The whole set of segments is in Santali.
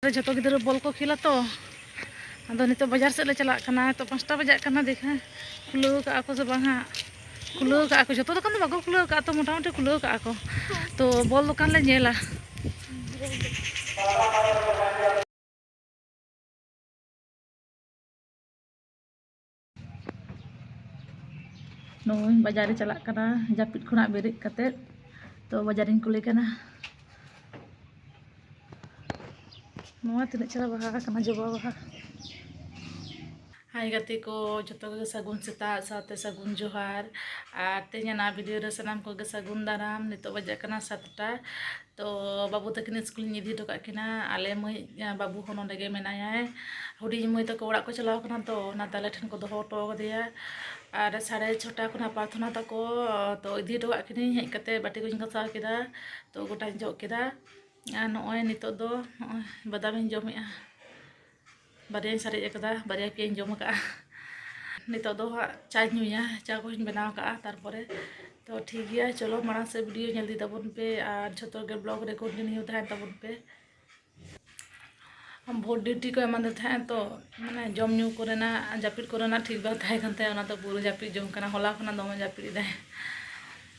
ᱡᱚᱛᱚ ᱜᱤᱫᱽᱨᱟᱹ ᱵᱚᱞ ᱠᱚ ᱠᱷᱮᱞᱟ ᱛᱚ ᱟᱫᱚ ᱱᱤᱛᱚᱜ ᱵᱟᱡᱟᱨ ᱥᱮᱫ ᱞᱮ ᱪᱟᱞᱟᱜ ᱠᱟᱱᱟ ᱱᱤᱛᱚᱜ ᱯᱟᱸᱪᱴᱟ ᱵᱟᱡᱟᱜ ᱠᱟᱱᱟ ᱫᱮᱠᱷᱟ ᱠᱷᱩᱞᱟᱹᱣ ᱠᱟᱜᱼᱟ ᱠᱚ ᱥᱮ ᱵᱟᱝ ᱦᱟᱸᱜ ᱠᱷᱩᱞᱟᱹᱣ ᱠᱟᱜᱼᱟ ᱠᱚ ᱡᱚᱛᱚ ᱫᱚᱠᱟᱱ ᱫᱚ ᱵᱟᱠᱚ ᱠᱷᱩᱞᱟᱹᱣ ᱠᱟᱜᱼᱟ ᱛᱚ ᱢᱚᱴᱟᱢᱩᱴᱤ ᱠᱷᱩᱞᱟᱹᱣ ᱠᱟᱜᱼᱟ ᱠᱚ ᱛᱚ ᱵᱚᱞ ᱫᱚᱠᱟᱱ ᱞᱮ ᱧᱮᱞᱟ ᱱᱚᱜᱼᱚᱭ ᱵᱟᱡᱟᱨ ᱨᱮ ᱪᱟᱞᱟᱜ ᱠᱟᱱᱟ ᱡᱟᱹᱯᱤᱫ ᱠᱷᱚᱱᱟᱜ ᱵᱮᱨᱮᱫ ᱠᱟᱛᱮᱫ ᱛᱚ ᱵᱟᱡᱟᱨᱤᱧ ᱠᱩᱞᱮ ᱠᱟᱱᱟ ᱱᱚᱣᱟ ᱛᱤᱱᱟᱹᱜ ᱪᱮᱦᱨᱟ ᱵᱟᱦᱟ ᱠᱟᱱᱟ ᱡᱚᱵᱟ ᱵᱟᱦᱟ ᱦᱟᱭ ᱜᱟᱛᱮ ᱠᱚ ᱡᱚᱛᱚ ᱜᱮ ᱥᱟᱹᱜᱩᱱ ᱥᱮᱛᱟᱜ ᱥᱟᱶᱛᱮ ᱥᱟᱹᱜᱩᱱ ᱡᱚᱦᱟᱨ ᱟᱨ ᱛᱮᱦᱮᱧᱟᱜ ᱱᱚᱣᱟ ᱵᱷᱤᱰᱤᱭᱳ ᱨᱮ ᱥᱟᱱᱟᱢ ᱠᱚᱜᱮ ᱥᱟᱹᱜᱩᱱ ᱫᱟᱨᱟᱢ ᱱᱤᱛᱚᱜ ᱵᱟᱡᱟᱜ ᱠᱟᱱᱟ ᱥᱟᱛᱴᱟ ᱛᱚ ᱵᱟᱹᱵᱩ ᱛᱟᱹᱠᱤᱱ ᱥᱠᱩᱞᱤᱧ ᱤᱫᱤ ᱦᱚᱴᱚ ᱠᱟᱜ ᱠᱤᱱᱟ ᱟᱞᱮ ᱢᱟᱹᱭ ᱵᱟᱹᱵᱩ ᱦᱚᱸ ᱱᱚᱸᱰᱮ ᱜᱮ ᱢᱮᱱᱟᱭᱟᱭ ᱦᱩᱰᱤᱧ ᱢᱟᱹᱭ ᱛᱟᱠᱚ ᱚᱲᱟᱜ ᱠᱚ ᱪᱟᱞᱟᱣ ᱠᱟᱱᱟ ᱛᱚ ᱚᱱᱟᱛᱮ ᱟᱞᱮ ᱴᱷᱮᱱ ᱠᱚ ᱫᱚᱦᱚ ᱦᱚᱴᱚ ᱠᱟᱫᱮᱭᱟ ᱟᱨ ᱥᱟᱲᱮ ᱪᱷᱚᱴᱟ ᱠᱷᱚᱱᱟᱜ ᱯᱨᱟᱨᱛᱷᱚᱱᱟ ᱛᱟᱠᱚ ᱛᱚ ᱤᱫᱤ ᱦᱚᱴᱚ ᱠᱟᱜ ᱠᱤᱱᱟᱹᱧ ᱦᱮᱡ ᱠᱟᱛᱮ ᱵᱟᱹᱴᱤ ᱠᱚᱧ ᱜᱟᱥᱟᱣ ᱠᱮᱫᱟ ᱛᱚ ᱜᱚᱴᱟᱧ ᱡᱚᱜ ᱠᱮᱫᱟ ᱟᱨ ᱱᱚᱜᱼᱚᱭ ᱱᱤᱛᱚᱜ ᱫᱚ ᱱᱚᱜᱼᱚᱭ ᱵᱟᱫᱟᱢᱤᱧ ᱡᱚᱢᱮᱜᱼᱟ ᱵᱟᱨᱭᱟᱧ ᱥᱟᱨᱮᱡ ᱟᱠᱟᱫᱟ ᱵᱟᱨᱭᱟ ᱯᱮᱭᱟᱧ ᱡᱚᱢ ᱟᱠᱟᱫᱼᱟ ᱱᱤᱛᱚᱜ ᱫᱚ ᱦᱟᱸᱜ ᱪᱟᱧ ᱧᱩᱭᱟ ᱪᱟ ᱠᱚᱧ ᱵᱮᱱᱟᱣ ᱟᱠᱟᱫᱼᱟ ᱛᱟᱨᱯᱚᱨᱮ ᱛᱚ ᱴᱷᱤᱠ ᱜᱮᱭᱟ ᱪᱚᱞᱚ ᱢᱟᱲᱟᱝ ᱥᱮᱫ ᱵᱷᱤᱰᱤᱭᱳ ᱧᱮᱞ ᱤᱫᱤ ᱛᱟᱵᱚᱱ ᱯᱮ ᱟᱨ ᱡᱷᱚᱛᱚ ᱜᱮ ᱵᱞᱚᱜ ᱨᱮ ᱠᱚᱱᱴᱤᱱᱤᱭᱩ ᱛᱟᱦᱮᱱ ᱛᱟᱵᱚᱱ ᱯᱮ ᱵᱷᱳᱴ ᱰᱤᱭᱩᱴᱤ ᱠᱚ ᱮᱢᱟᱫᱮ ᱛᱟᱦᱮᱸᱫ ᱛᱚ ᱢᱟᱱᱮ ᱡᱚᱢ ᱧᱩ ᱠᱚᱨᱮᱱᱟᱜ ᱡᱟᱹᱯᱤᱫ ᱠᱚᱨᱮᱱᱟᱜ ᱴᱷᱤᱠ ᱵᱟᱝ ᱛᱟᱦᱮᱸ ᱠᱟᱱ ᱛᱟᱭᱟ ᱚᱱᱟᱛᱮ ᱯᱩᱨᱟᱹ ᱡᱟᱹᱯᱤᱫ ᱡᱚᱝ ᱠᱟᱱᱟ ᱦᱚᱞᱟ ᱠᱷᱚᱱᱟᱜ ᱫᱚᱢᱮ ᱡᱟᱹᱯᱤᱫ ᱮᱫᱟᱭ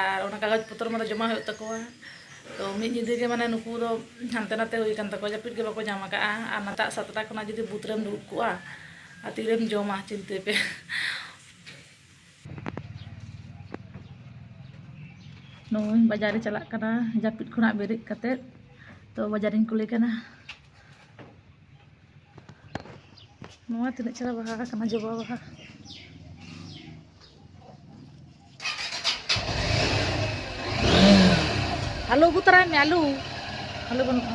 ᱟᱨ ᱚᱱᱟ ᱠᱟᱜᱚᱡᱽ ᱯᱚᱛᱨᱚ ᱢᱟᱱᱮ ᱡᱚᱢᱟ ᱦᱩᱭᱩᱜ ᱛᱟᱠᱚᱣᱟ ᱛᱚ ᱢᱤᱫ ᱧᱤᱫᱟᱹ ᱜᱮ ᱢᱟᱱᱮ ᱱᱩᱠᱩ ᱫᱚ ᱦᱟᱱᱛᱮ ᱱᱟᱛᱮ ᱦᱩᱭ ᱟᱠᱟᱱ ᱛᱟᱠᱚᱣᱟ ᱡᱟᱹᱯᱤᱫ ᱜᱮ ᱵᱟᱠᱚ ᱧᱟᱢ ᱟᱠᱟᱫᱼᱟ ᱟᱨ ᱱᱮᱛᱟᱜ ᱥᱟᱛᱴᱟ ᱠᱷᱚᱱᱟᱜ ᱡᱩᱫᱤ ᱵᱩᱛᱷ ᱨᱮᱢ ᱫᱩᱲᱩᱵ ᱠᱚᱜᱼᱟ ᱟᱨ ᱛᱤᱨᱮᱢ ᱡᱚᱢᱟ ᱪᱤᱱᱛᱟᱹᱭ ᱯᱮ ᱱᱚᱜᱼᱚᱭ ᱵᱟᱡᱟᱨᱮ ᱪᱟᱞᱟᱜ ᱠᱟᱱᱟ ᱡᱟᱹᱯᱤᱫ ᱠᱷᱚᱱᱟᱜ ᱵᱮᱨᱮᱫ ᱠᱟᱛᱮᱫ ᱛᱚ ᱵᱟᱡᱟᱨᱤᱧ ᱠᱩᱞᱮ ᱠᱟᱱᱟ ᱱᱚᱣᱟ ᱛᱤᱱᱟᱹᱜ ᱪᱮᱦᱨᱟ ᱵᱟᱦᱟ ᱟᱠᱟᱱᱟ ᱡᱚᱵᱟ ᱵᱟᱦᱟ ᱟᱞᱩ ᱟᱹᱜᱩ ᱛᱟᱨᱟᱭ ᱢᱮ ᱟᱞᱩ ᱟᱞᱩ ᱵᱟᱹᱱᱩᱜᱼᱟ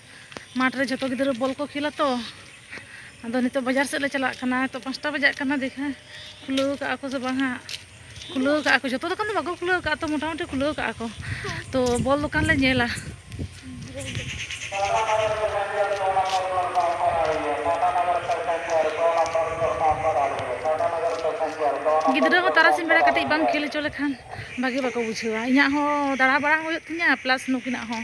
ᱢᱟᱴᱷ ᱨᱮ ᱡᱷᱚᱛᱚ ᱜᱤᱫᱽᱨᱟᱹ ᱵᱚᱞ ᱠᱚ ᱠᱷᱮᱞᱟ ᱛᱚ ᱟᱫᱚ ᱱᱤᱛᱚᱜ ᱵᱟᱡᱟᱨ ᱥᱮᱫ ᱞᱮ ᱪᱟᱞᱟᱜ ᱠᱟᱱᱟ ᱛᱚ ᱯᱟᱸᱪᱴᱟ ᱵᱟᱡᱟᱜ ᱠᱟᱱᱟ ᱫᱮᱠᱷᱟ ᱠᱷᱩᱞᱟᱹᱣ ᱠᱟᱜᱼᱟ ᱠᱚ ᱥᱮ ᱵᱟᱝ ᱦᱟᱸᱜ ᱠᱷᱩᱞᱟᱹᱣ ᱠᱟᱜᱼᱟ ᱠᱚ ᱡᱚᱛᱚ ᱫᱚᱠᱟᱱ ᱫᱚ ᱵᱟᱠᱚ ᱠᱷᱩᱞᱟᱹᱣ ᱠᱟᱜᱼᱟ ᱛᱚ ᱢᱚᱴᱟᱢᱩᱴᱤ ᱠᱷᱩᱞᱟᱹᱣ ᱠᱟᱜᱼᱟ ᱠᱚ ᱛᱚ ᱵᱚᱞ ᱫᱚᱠᱟᱱ ᱞᱮ ᱧᱮᱞᱟ ᱜᱤᱫᱽᱨᱟᱹ ᱦᱚᱸ ᱛᱟᱨᱟᱥᱤᱧ ᱵᱮᱲᱟ ᱠᱟᱹᱴᱤᱡ ᱵᱟᱢ ᱠᱷᱮᱞ ᱦᱚᱪᱚ ᱞᱮᱠᱷᱟᱱ ᱵᱷᱟᱜᱮ ᱵᱟᱠᱚ ᱵᱩᱡᱷᱟᱹᱣᱟ ᱤᱧᱟᱹᱜ ᱦᱚᱸ ᱫᱟᱬᱟ ᱵᱟᱲᱟ ᱦᱩᱭᱩᱜ ᱛᱤᱧᱟᱹ ᱯᱞᱟᱥ ᱱᱩᱠᱤᱱᱟᱜ ᱦᱚᱸ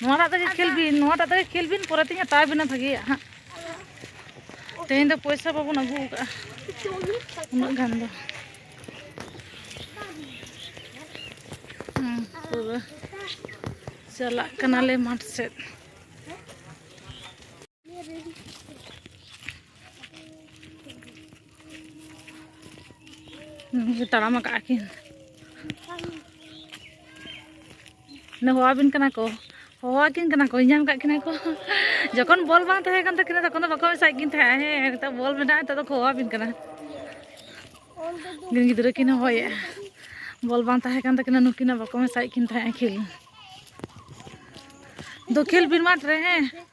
ᱱᱚᱣᱟᱴᱟᱜ ᱛᱮᱜᱮ ᱠᱷᱮᱞ ᱵᱤᱱ ᱱᱚᱣᱟᱴᱟᱜ ᱛᱮᱜᱮ ᱠᱷᱮᱞ ᱵᱤᱱ ᱯᱚᱨᱮ ᱛᱤᱧ ᱦᱟᱛᱟᱣ ᱵᱤᱱᱟ ᱵᱷᱟᱜᱮᱭᱟᱜ ᱦᱟᱸᱜ ᱛᱮᱦᱮᱧ ᱫᱚ ᱯᱚᱭᱥᱟ ᱵᱟᱵᱚᱱ ᱟᱹᱜᱩ ᱟᱠᱟᱫᱼᱟ ᱩᱱᱟᱹᱜ ᱜᱟᱱ ᱫᱚ ᱯᱩᱨᱟᱹ ᱪᱟᱞᱟᱜ ᱠᱟᱱᱟᱞᱮ ᱢᱟᱴᱷ ᱥᱮᱫ ᱛᱟᱲᱟᱢ ᱟᱠᱟᱫ ᱠᱤᱱ ᱦᱚᱦᱚᱣᱟᱵᱤᱱ ᱠᱟᱱᱟ ᱠᱚ ᱦᱚᱦᱚᱣᱟᱠᱤᱱ ᱠᱟᱱᱟ ᱠᱚ ᱧᱟᱢ ᱠᱟᱜ ᱠᱤᱱᱟ ᱠᱚ ᱡᱚᱠᱷᱚᱱ ᱵᱚᱞ ᱵᱟᱝ ᱛᱟᱦᱮᱸ ᱠᱟᱱ ᱛᱟᱹᱠᱤᱱᱟ ᱛᱚᱠᱷᱚᱱ ᱫᱚ ᱵᱟᱠᱚ ᱢᱮᱥᱟᱭᱮᱫ ᱠᱤᱱ ᱛᱟᱦᱮᱸᱜᱼᱟ ᱦᱮᱸ ᱱᱤᱛᱚᱜ ᱵᱚᱞ ᱢᱮᱱᱟᱜᱼᱟ ᱱᱤᱛᱚᱜ ᱫᱚᱠᱚ ᱦᱚᱦᱚᱣᱟᱵᱤᱱ ᱠᱟᱱᱟ ᱜᱤᱱ ᱜᱤᱫᱽᱨᱟᱹ ᱠᱤᱱ ᱦᱚᱦᱚᱭᱮᱫᱼᱟ ᱵᱚᱞ ᱵᱟᱝ ᱛᱟᱦᱮᱸ ᱠᱟᱱ ᱛᱟᱹᱠᱤᱱᱟ ᱱᱩᱠᱤᱱᱟᱜ ᱵᱟᱠᱚ ᱢᱮᱥᱟᱭᱮᱫ ᱠᱤᱱ ᱛᱟᱦᱮᱸᱜᱼᱟ ᱠᱷᱮᱞ ᱫᱚ ᱠᱷᱮᱞ ᱵᱤᱱ ᱢᱟᱴᱷ ᱨᱮ ᱦᱮᱸ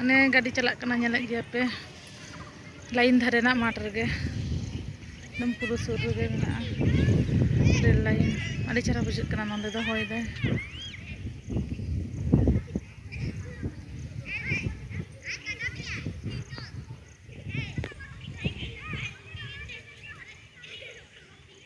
ᱚᱱᱮ ᱜᱟᱹᱰᱤ ᱪᱟᱞᱟᱜ ᱠᱟᱱᱟ ᱧᱮᱞᱮᱫ ᱜᱮᱭᱟ ᱯᱮ ᱞᱟᱭᱤᱱ ᱫᱷᱟᱨᱮ ᱨᱮᱱᱟᱜ ᱢᱟᱴᱷ ᱨᱮᱜᱮ ᱮᱠᱫᱚᱢ ᱯᱩᱨᱟᱹ ᱥᱩᱨ ᱨᱮᱜᱮ ᱢᱮᱱᱟᱜᱼᱟ ᱨᱮᱞ ᱞᱟᱭᱤᱱ ᱟᱹᱰᱤ ᱪᱮᱦᱨᱟ ᱵᱩᱡᱷᱟᱹᱜ ᱠᱟᱱᱟ ᱱᱚᱸᱰᱮ ᱫᱚ ᱦᱚᱭ ᱫᱟᱭ